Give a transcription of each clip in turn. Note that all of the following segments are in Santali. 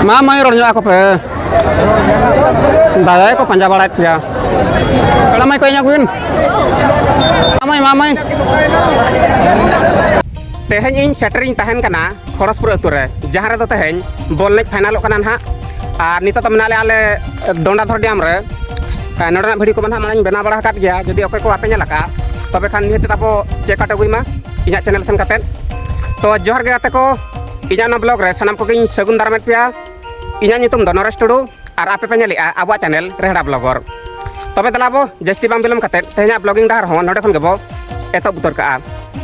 ᱢᱟ ᱢᱟᱹᱭ ᱨᱚᱲ ᱧᱚᱜ ᱟᱠᱚ ᱯᱮ ᱫᱟᱫᱟ ᱠᱚ ᱯᱟᱸᱡᱟ ᱵᱟᱲᱟᱭᱮᱫ ᱯᱮᱭᱟ ᱠᱟᱲᱟ ᱢᱟᱹᱭ ᱠᱚ ᱤᱧ ᱟᱹᱜᱩᱭᱮᱱ ᱢᱟᱢᱟᱭ ᱢᱟᱢᱟᱭ ᱛᱮᱦᱮᱧ ᱤᱧ ᱥᱮᱴᱮᱨᱤᱧ ᱛᱟᱦᱮᱱ ᱠᱟᱱᱟ ᱠᱷᱚᱲᱚᱥᱯᱩᱨ ᱟᱹᱛᱩ ᱨᱮ ᱡᱟᱦᱟᱸ ᱨᱮᱫᱚ ᱛᱮᱦᱮᱧ ᱵᱚᱞ ᱮᱱᱮᱡ ᱯᱷᱟᱭᱱᱟᱞᱚᱜ ᱠᱟᱱᱟ ᱱᱟᱦᱟᱜ ᱟᱨ ᱱᱤᱛᱚᱜ ᱫᱚ ᱢᱮᱱᱟᱜ ᱞᱮᱭᱟ ᱟᱞᱮ ᱫᱚᱱᱰᱟᱫᱷᱚᱨ ᱰᱮᱢ ᱨᱮ ᱱᱚᱰᱮᱱᱟᱜ ᱵᱷᱤᱰᱤᱭᱳ ᱠᱚᱢᱟ ᱱᱟᱦᱟᱜ ᱢᱟᱲᱟᱝ ᱵᱮᱱᱟᱣ ᱵᱟᱲᱟ ᱟᱠᱟᱫ ᱜᱮᱭᱟ ᱡᱩᱫᱤ ᱚᱠᱚᱭ ᱠᱚ ᱵᱟᱯᱮ ᱧᱮᱞ ᱟᱠᱟᱫ ᱛᱚᱵᱮ ᱠᱷᱟᱱ ᱱᱤᱦᱟᱹᱛ ᱟᱵᱚ ᱪᱮᱠ ᱟᱣᱩᱴ ᱟᱹᱜᱩᱭ ᱢᱟ ᱤᱧᱟᱹᱜ ᱪᱮᱱᱮᱞ ᱥᱮᱱ ᱠᱟᱛᱮᱫ ᱛᱚ ᱡᱚᱦᱟᱨ ᱜᱮ ᱜᱟᱛᱮ ᱠᱚ ᱤᱧᱟᱹᱜ ᱱᱚᱣᱟ ᱵᱞᱚᱜ ᱨᱮ ᱥᱟᱱᱟᱢ ᱠᱚᱜᱮᱧ ᱥᱟᱹᱜᱩᱱ ᱫᱟᱨᱟᱢᱮᱫ ᱯᱮᱭᱟ ᱤᱧᱟᱹᱜ ᱧᱩᱛᱩᱢ ᱫᱚ ᱱᱚᱨᱮᱥ ᱴᱩᱰᱩ ᱟᱨ ᱟᱯᱮ ᱯᱮ ᱧᱮᱞᱮᱜᱼᱟ ᱟᱵᱚᱣᱟᱜ ᱪᱮᱱᱮᱞ ᱨᱮᱦᱲᱟ ᱵᱞᱚᱜᱚᱨ ᱛᱚᱵᱮ ᱫᱮᱞᱟ ᱵᱚ ᱡᱟᱹᱥᱛᱤ ᱵᱟᱝ ᱵᱤᱞᱚᱢ ᱠᱟᱛᱮ ᱛᱮᱦᱮᱧᱟᱜ ᱵᱞᱚᱜᱤᱝ ᱰᱟᱦᱟᱨ ᱦᱚᱸ ᱱᱚᱰᱮ ᱠᱷᱚᱱ ᱜᱮᱵᱚ ᱮᱛᱚᱦᱚᱵ ᱩᱛᱟᱹᱨ ᱠᱟᱜᱼᱟ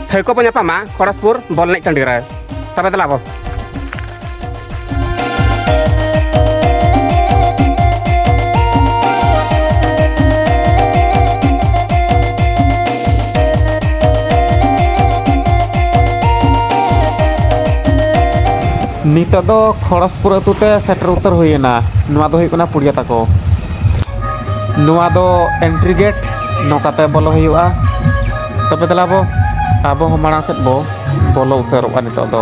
ᱴᱷᱟᱹᱣᱠᱟᱹ ᱵᱚ ᱧᱟᱯᱟᱢᱟ ᱠᱷᱚᱲᱚᱥᱯᱩᱨ ᱵᱚᱞ ᱮᱱᱮᱡ ᱴᱟᱺᱰᱤ ᱨᱮ ᱛᱚᱵᱮ ᱫᱮᱞᱟ ᱵᱚ ᱱᱤᱛᱚᱜ ᱫᱚ ᱠᱷᱚᱲᱚᱥᱯᱩᱨ ᱟᱹᱛᱩ ᱛᱮ ᱥᱮᱴᱮᱨ ᱩᱛᱟᱹᱨ ᱦᱩᱭᱮᱱᱟ ᱱᱚᱣᱟ ᱫᱚ ᱦᱩᱭᱩᱜ ᱠᱟᱱᱟ ᱯᱩᱲᱤᱭᱟ ᱛᱟᱠᱚ ᱱᱚᱣᱟ ᱫᱚ ᱮᱱᱴᱨᱤ ᱜᱮᱴ ᱱᱚᱝᱠᱟᱛᱮ ᱵᱚᱞᱚ ᱦᱩᱭᱩᱜᱼᱟ ᱛᱚᱵᱮ ᱫᱮᱞᱟ ᱵᱚ ᱟᱵᱚ ᱦᱚᱸ ᱢᱟᱲᱟᱝ ᱥᱮᱫ ᱵᱚ ᱵᱚᱞᱚ ᱩᱛᱟᱹᱨᱚᱜᱼᱟ ᱱᱤᱛᱚᱜ ᱫᱚ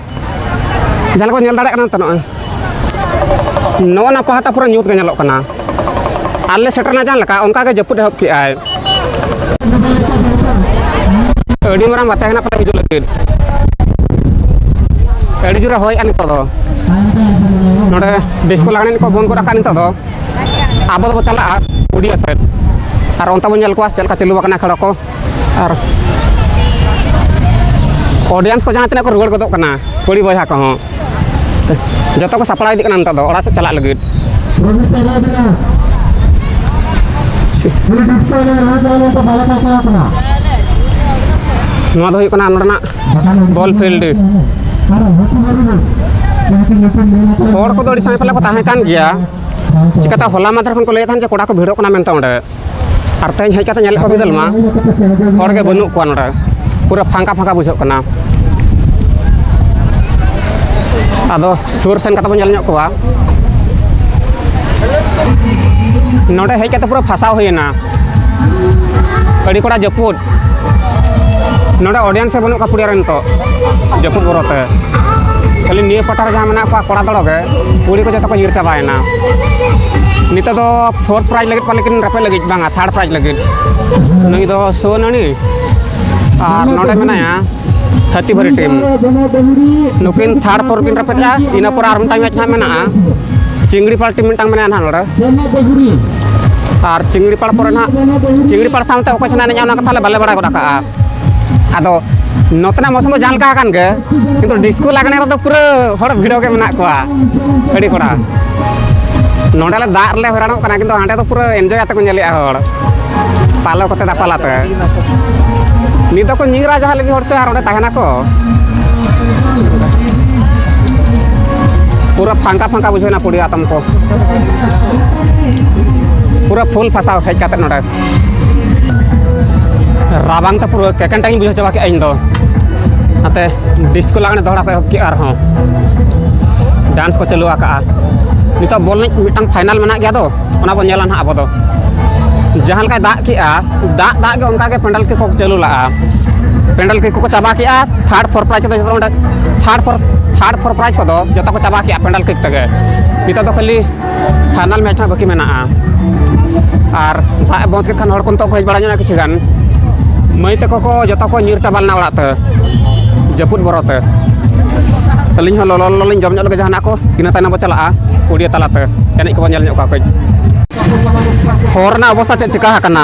ᱡᱟᱦᱟᱸ ᱞᱮᱠᱟ ᱧᱮᱞ ᱫᱟᱲᱮᱭᱟᱜ ᱠᱟᱱᱟ ᱛᱚ ᱱᱚᱜᱼᱚᱭ ᱱᱚᱜᱼᱚ ᱱᱟ ᱯᱟᱦᱴᱟ ᱯᱩᱨᱟᱹ ᱧᱩᱛ ᱜᱮ ᱧᱮᱞᱚᱜ ᱠᱟᱱᱟ ᱟᱞᱮ ᱥᱮᱴᱮᱨᱱᱟ ᱡᱟᱦᱟᱸ ᱞᱮᱠᱟ ᱚᱱᱠᱟ ᱜᱮ ᱡᱟᱹᱯᱩᱫ ᱮᱦᱚᱵ ᱠᱮᱜᱼᱟᱭ ᱟᱹᱰᱤ ᱢᱟᱨᱟᱝ ᱵᱟᱛᱟ ᱦᱮᱱᱟᱜ ᱯᱟᱞᱮ ᱦᱤᱡᱩᱜ ᱞᱟᱹᱜᱤᱫ ᱟᱹᱰᱤ ᱡᱳᱨᱮ ᱦᱚᱭᱮᱜᱼᱟ ᱱᱤᱛᱚᱜ ᱫᱚ ᱱᱚᱰᱮ ᱰᱤᱥᱠᱳ ᱞᱟᱜᱽᱬᱮ ᱠᱚ ᱵᱚᱱᱫ ᱜᱚᱫ ᱟᱠᱟᱫ ᱱᱤᱛᱚᱜ ᱫᱚ ᱟᱵᱚ ᱫᱚᱵᱚ ᱪᱟᱞᱟᱜᱼᱟ ᱩᱰᱤᱭᱟ ᱥᱮᱫ ᱟᱨ ᱚᱱᱛᱮ ᱵᱚᱱ ᱧᱮᱞ ᱠᱚᱣᱟ ᱪᱮᱫ ᱞᱮᱠᱟ ᱪᱟᱹᱞᱩ ᱟᱠᱟᱱᱟ ᱠᱷᱮᱞ ᱠᱚ ᱟᱨ ᱚᱰᱤᱭᱮᱱᱥ ᱠᱚ ᱡᱟᱦᱟᱸ ᱛᱤᱱᱟᱹᱜ ᱠᱚ ᱨᱩᱣᱟᱹᱲ ᱜᱚᱫᱚᱜ ᱠᱟᱱᱟ ᱠᱩᱲᱤ ᱵᱚᱭᱦᱟ ᱠᱚᱦᱚᱸ ᱡᱚᱛᱚ ᱠᱚ ᱥᱟᱯᱲᱟᱣ ᱤᱫᱤᱜ ᱠᱟᱱᱟ ᱱᱤᱛᱚᱜ ᱫᱚ ᱚᱲᱟᱜ ᱥᱮᱫ ᱪᱟᱞᱟᱜ ᱞᱟᱹᱜᱤᱫ ᱱᱚᱣᱟ ᱫᱚ ᱦᱩᱭᱩᱜ ᱠᱟᱱᱟ ᱱᱚᱰᱮᱱᱟᱜ ᱵᱚᱞ ᱯᱷᱤᱞᱰ ᱦᱚᱲ ᱠᱚᱫᱚ ᱟᱹᱰᱤ ᱥᱟᱸᱜᱮ ᱯᱟᱞᱮ ᱠᱚ ᱛᱟᱦᱮᱸ ᱠᱟᱱ ᱜᱮᱭᱟ ᱪᱤᱠᱟᱹᱛᱮ ᱦᱚᱞᱟ ᱢᱟᱫᱷᱮᱨ ᱠᱷᱚᱱ ᱠᱚ ᱞᱟᱹᱭᱮᱫ ᱛᱟᱦᱮᱱ ᱡᱮ ᱠᱚᱲᱟ ᱠᱚ ᱵᱷᱤᱲᱚᱜ ᱠᱟᱱᱟ ᱢᱮᱱᱛᱮ ᱚᱸᱰᱮ ᱟᱨ ᱛᱮᱦᱮᱧ ᱦᱮᱡ ᱠᱟᱛᱮ ᱧᱮᱞᱮᱫ ᱠᱚᱣᱟ ᱵᱤᱫᱟᱹᱞ ᱢᱟ ᱦᱚᱲ ᱜᱮ ᱵᱟᱹᱱᱩᱜ ᱠᱚᱣᱟ ᱱᱚᱰᱮ ᱯᱩᱨᱟᱹ ᱯᱷᱟᱸᱠᱟ ᱯᱷᱟᱸᱠᱟ ᱵᱩᱡᱷᱟᱹᱜ ᱠᱟᱱᱟ ᱟᱫᱚ ᱥᱩᱨ ᱥᱮᱱ ᱠᱟᱛᱮ ᱵᱚᱱ ᱧᱮᱞ ᱧᱚᱜ ᱠᱚᱣᱟ ᱱᱚᱰᱮ ᱦᱮᱡ ᱠᱟᱛᱮ ᱯᱩᱨᱟᱹ ᱯᱷᱟᱥᱟᱣ ᱦᱩᱭᱮᱱᱟ ᱟᱹᱰᱤ ᱠᱚᱲᱟ ᱡᱟᱹᱯᱩᱫ ᱱᱚᱰᱮ ᱚᱰᱤᱭᱮᱱᱥ ᱦᱚᱸ ᱵᱟᱹᱱᱩᱜ ᱠᱚᱣᱟ ᱯᱩᱲᱤᱭᱟ ᱨᱮ ᱱᱤᱛᱚᱜ ᱡᱟᱹᱯᱩᱫ ᱵᱚᱨᱚᱛᱮ ᱠᱷᱟᱹᱞᱤ ᱱᱤᱭᱟᱹ ᱯᱟᱴᱟ ᱨᱮ ᱡᱟᱦᱟᱸ ᱢᱮᱱᱟᱜ ᱠᱚᱣᱟ ᱠᱚᱲᱟ ᱫᱚᱲᱚᱜᱮ ᱠᱩᱲᱤ ᱠᱚ ᱡᱚᱛᱚ ᱠᱚ ᱧᱤᱨ ᱪᱟᱵᱟᱭᱮᱱᱟ ᱠᱟᱱᱟ ᱱᱤᱛᱚᱜ ᱫᱚ ᱯᱷᱳᱨ ᱯᱨᱟᱭᱤᱡᱽ ᱞᱟᱹᱜᱤᱫ ᱯᱟᱞᱮ ᱠᱤᱱ ᱨᱟᱯᱮ ᱞᱟᱹᱜᱤᱫ ᱵᱟᱝᱟ ᱛᱷᱟᱨᱰ ᱯᱨᱟᱭᱤᱡᱽ ᱞᱟᱹᱜᱤᱫ ᱱᱩᱭ ᱫᱚ ᱥᱩᱣᱟᱱᱟᱹᱱᱤ ᱟᱨ ᱱᱚᱰᱮ ᱢᱮᱱᱟᱭᱟ ᱦᱟᱹᱛᱤ ᱵᱷᱟᱹᱨᱤ ᱴᱤᱢ ᱱᱩᱠᱤᱱ ᱛᱷᱟᱨᱰ ᱯᱷᱳᱨ ᱠᱤᱱ ᱨᱟᱯᱮᱫᱼᱟ ᱤᱱᱟᱹ ᱯᱚᱨ ᱟᱨ ᱢᱤᱫᱴᱟᱝ ᱢᱮᱪ ᱦᱟᱸᱜ ᱢᱮᱱᱟᱜᱼᱟ ᱪᱤᱝᱲᱤ ᱯᱟᱲ ᱴᱤᱢ ᱢᱤᱫᱴᱟᱝ ᱢᱮᱱᱟᱭᱟ ᱱᱟᱦᱟᱜ ᱱᱚᱰᱮ ᱟᱨ ᱪᱤᱝᱲᱤ ᱯᱟᱲ ᱯᱚᱨᱮ ᱱᱟᱦᱟᱜ ᱪᱤᱝᱲᱤ ᱯᱟᱲ ᱥᱟᱶᱛᱮ ᱚᱠᱚᱭ ᱪᱚ ᱱᱟᱦᱟᱜ ᱮᱱᱮᱡᱼᱟ ᱚᱱᱟ ᱠᱟᱛᱷᱟ ᱞᱮ ᱵᱟᱞᱮ ᱵᱟᱲᱟᱭ ᱜᱚᱫ ᱟᱠᱟᱫᱼᱟ ᱟᱫᱚ ᱱᱚᱛᱮᱱᱟᱜ ᱢᱚᱥᱚᱢ ᱫᱚ ᱡᱟᱦᱟᱸ ᱞᱮᱠᱟ ᱟᱠᱟᱱ ᱜᱮ ᱠᱤᱱᱛᱩ ᱰᱤᱥᱠᱳ ᱞᱟᱜᱽᱬᱮ ᱨᱮᱫᱚ ᱯᱩᱨᱟᱹ ᱦᱚᱲ ᱵᱷᱤᱲ ᱜᱮ ᱢᱮᱱᱟᱜ ᱠᱚᱣᱟ ᱟᱹᱰᱤ ᱠᱚᱲᱟ ᱱᱚᱰᱮ ᱞᱮ ᱫᱟᱜ ᱨᱮᱞᱮ ᱦᱚᱭᱨᱟᱱᱚᱜ ᱠᱟᱱᱟ ᱠᱤᱱᱛᱩ ᱦᱟᱸᱰᱮ ᱫᱚ ᱯᱩᱨᱟᱹ ᱮᱱᱡᱚᱭ ᱟᱛᱮ ᱠᱚ ᱧᱮᱞᱮᱜᱼᱟ ᱦᱚᱲ ᱯᱟᱞᱚ ᱠᱚᱛᱮ ᱫᱟᱯᱟᱞ ᱟᱛᱮ ᱱᱤᱛ ᱫᱚᱠᱚ ᱧᱤᱨᱟ ᱡᱟᱦᱟᱸ ᱞᱟᱹᱜᱤᱫ ᱦᱚᱲ ᱪᱚ ᱟᱨ ᱚᱸᱰᱮ ᱛᱟᱦᱮᱱᱟᱠᱚ ᱯᱩᱨᱟᱹ ᱯᱷᱟᱸᱠᱟ ᱯᱷᱟᱸᱠᱟ ᱵᱩᱡᱷᱟᱹᱣᱱᱟ ᱯᱩᱲᱤ ᱟᱛᱚᱢ ᱠᱚ ᱯᱩᱨᱟᱹ ᱯᱷᱩᱞ ᱯᱷᱟᱥᱟᱣ ᱦᱮᱡ ᱠᱟᱛᱮ ᱱᱚᱰᱮ ᱨᱟᱵᱟᱝ ᱛᱮ ᱯᱩᱨᱟᱹ ᱠᱮᱠᱮᱱᱴᱟᱧ ᱵᱩᱡᱷᱟᱹᱣ ᱪᱟᱵᱟ ᱠᱮᱫᱼᱟ ᱤᱧ ᱫᱚ ᱱᱟᱛᱮ ᱰᱤᱥᱠᱳ ᱞᱟᱜᱽᱬᱮ ᱫᱚᱦᱲᱟ ᱠᱚ ᱮᱦᱚᱵ ᱠᱮᱫᱼᱟ ᱟᱨᱦᱚᱸ ᱰᱟᱱᱥ ᱠᱚ ᱪᱟᱹᱞᱩ ᱟᱠᱟᱜᱼᱟ ᱱᱤᱛᱚᱜ ᱵᱚᱞ ᱮᱱᱮᱡ ᱢᱤᱫᱴᱟᱝ ᱯᱷᱟᱭᱱᱟᱞ ᱢᱮᱱᱟᱜ ᱜᱮᱭᱟ ᱫᱚ ᱚᱱᱟ ᱵᱚᱱ ᱧᱮᱞᱟ ᱱᱟᱦᱟᱜ ᱟᱵᱚ ᱫᱚ ᱡᱟᱦᱟᱸ ᱞᱮᱠᱟᱭ ᱫᱟᱜ ᱠᱮᱜᱼᱟ ᱫᱟᱜ ᱫᱟᱜ ᱜᱮ ᱚᱱᱠᱟᱜᱮ ᱯᱮᱱᱰᱮᱞ ᱠᱚᱠᱚ ᱪᱟᱹᱞᱩ ᱞᱟᱜᱼᱟ ᱯᱮᱱᱰᱮᱞ ᱠᱚᱠᱚ ᱪᱟᱵᱟ ᱠᱮᱜᱼᱟ ᱛᱷᱟᱨᱰ ᱯᱷᱳᱨ ᱯᱨᱟᱭᱤᱡᱽ ᱠᱚᱫᱚ ᱡᱚᱛᱚ ᱚᱸᱰᱮ third four third four prize ᱠᱚᱫᱚ ᱡᱚᱛᱚ ᱠᱚ ᱪᱟᱵᱟ ᱠᱮᱜᱼᱟ ᱯᱮᱱᱰᱮᱞ ᱠᱤᱠ ᱛᱮᱜᱮ ᱱᱤᱛᱚᱜ ᱫᱚ ᱠᱷᱟᱹᱞᱤ ᱯᱷᱟᱭᱱᱟᱞ ᱢᱮᱪ ᱦᱟᱸᱜ ᱵᱟᱹᱠᱤ ᱢᱮᱱᱟᱜᱼᱟ ᱟᱨ ᱫᱟᱜ ᱵᱚᱱᱫ ᱠᱮᱫ ᱠᱷᱟᱱ ᱦᱚᱲ ᱠᱚ ᱱᱤᱛᱚᱜ ᱠᱚ ᱦᱮᱡ ᱵᱟᱲᱟ ᱧᱚᱜᱼᱟ ᱠᱤᱪᱷᱩ ᱜᱟᱱ ᱢᱟᱹᱭ ᱛᱟᱠᱚ ᱠᱚ ᱡᱚᱛᱚ ᱠᱚ ᱧᱤᱨ ᱪᱟᱵᱟ ᱞᱮᱱᱟ ᱚᱲᱟᱜ ᱛᱮ ᱡᱟᱹᱯᱩᱫ ᱵᱚᱨᱚ ᱛᱮ ᱟᱹᱞᱤᱧ ᱦᱚᱸ ᱞᱚᱞᱚ ᱞᱚᱞᱚ ᱞᱤᱧ ᱡᱚᱢ ᱧᱚᱜ ᱞᱮᱜᱮ ᱡᱟᱦᱟᱱᱟᱜ ᱠᱚ ᱤᱱᱟᱹ ᱛᱟᱭᱱᱚᱢ ᱵᱚ ᱪᱟᱞᱟᱜᱼᱟ ᱠᱩᱲᱤᱭᱟᱹ ᱛᱟᱞᱟᱛᱮ ᱮᱱᱮᱡ ᱠᱚᱵᱚᱱ ᱧᱮᱞ ᱧᱚᱜ ᱠᱚᱣᱟ ᱠᱟᱹᱡ ᱦᱚᱨ ᱨᱮᱱᱟᱜ ᱚᱵᱚᱥᱛᱟ ᱪᱮᱫ ᱪᱤᱠᱟ ᱟᱠᱟᱱᱟ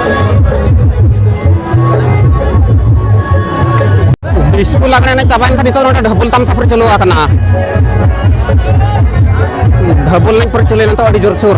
ᱰᱤᱥᱠᱳ ᱞᱟᱜᱽᱬᱮ ᱮᱱᱮᱡ ᱪᱟᱵᱟᱭᱮᱱ ᱠᱷᱟᱱ ᱱᱤᱛᱚᱜ ᱱᱚᱰᱮ ᱰᱷᱟᱹᱵᱩᱞ ᱛᱟᱢ ᱛᱟᱯᱚᱨ ᱪᱟᱹᱞᱩ ᱟᱠᱟᱱᱟ ᱰᱷᱟᱹᱵᱩᱞ ᱮᱱᱮᱡ ᱯᱚᱨᱮ ᱪᱟᱹᱞᱩᱭᱮᱱᱟ ᱱᱤᱛᱚᱜ ᱟᱹᱰᱤ ᱡᱳᱨ ᱥᱩᱨ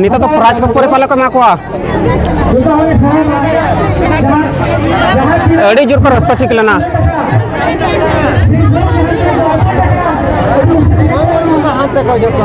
ᱱᱤᱛᱚᱜ ᱫᱚ ᱯᱨᱟᱭᱤᱡᱽ ᱠᱚ ᱯᱚᱨᱮ ᱯᱟᱞᱮ ᱠᱚ ᱮᱢᱟ ᱠᱚᱣᱟ ᱟᱹᱰᱤ ᱡᱳᱨ ᱠᱚ ᱨᱟᱹᱥᱠᱟᱹ ᱴᱷᱤᱠ ᱞᱮᱱᱟ ᱦᱟᱱᱛᱮ ᱠᱚ ᱡᱚᱛᱚ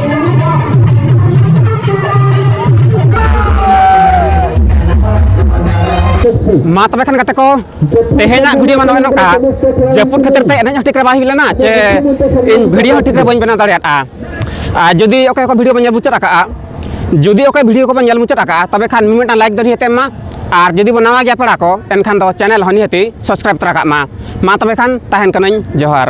ᱢᱟ ᱛᱚᱵᱮ ᱠᱷᱟᱱ ᱜᱟᱛᱮ ᱠᱚ ᱛᱮᱦᱮᱧᱟᱜ ᱵᱷᱤᱰᱤᱭᱳ ᱢᱟ ᱱᱚᱜᱼᱚᱭ ᱱᱚᱝᱠᱟ ᱡᱟᱹᱯᱩᱫ ᱠᱷᱟᱹᱛᱤᱨ ᱛᱮ ᱮᱱᱮᱡ ᱦᱚᱸ ᱴᱷᱤᱠ ᱨᱮ ᱵᱟᱭ ᱦᱩᱭ ᱞᱮᱱᱟ ᱪᱮ ᱤᱧ ᱵᱷᱤᱰᱤᱭᱳ ᱦᱚᱸ ᱴᱷᱤᱠ ᱨᱮ ᱵᱟᱹᱧ ᱵᱮᱱᱟᱣ ᱫᱟᱲᱮᱭᱟᱫᱼᱟ ᱟᱨ ᱡᱩᱫᱤ ᱚᱠᱚᱭ ᱠᱚ ᱵᱷᱤᱰᱤᱭᱳ ᱵᱚᱱ ᱧᱮᱞ ᱢᱩᱪᱟᱹᱫ ᱟᱠᱟᱫᱼᱟ ᱡᱩᱫᱤ ᱚᱠᱚᱭ ᱵᱷᱤᱰᱤᱭᱳ ᱠᱚᱵᱚᱱ ᱧᱮᱞ ᱢᱩᱪᱟᱹᱫ ᱟᱠᱟᱫᱼᱟ ᱛᱚᱵᱮ ᱠᱷᱟᱱ ᱢᱤᱢᱤᱫᱴᱟᱝ ᱞᱟᱭᱤᱠ ᱫᱚ ᱱᱤᱦᱟᱹᱛ ᱮᱢ ᱢᱟ ᱟᱨ ᱡᱩᱫᱤ ᱵᱚᱱ ᱱᱟᱣᱟ ᱜᱮᱭᱟ ᱯᱮᱲᱟ ᱠᱚ ᱮᱱᱠᱷᱟᱱ ᱫᱚ ᱪᱮᱱᱮᱞ ᱦᱚᱸ ᱱᱤᱦᱟᱹᱛ ᱥᱟᱵᱥᱠᱨᱟᱭᱤᱵ ᱛᱚᱨᱟ ᱠᱟᱜ ᱢᱟ ᱢᱟ ᱛᱚᱵᱮ ᱠᱷᱟᱱ ᱛᱟᱦᱮᱱ ᱠᱟᱹᱱᱟᱹᱧ ᱡᱚᱦᱟᱨ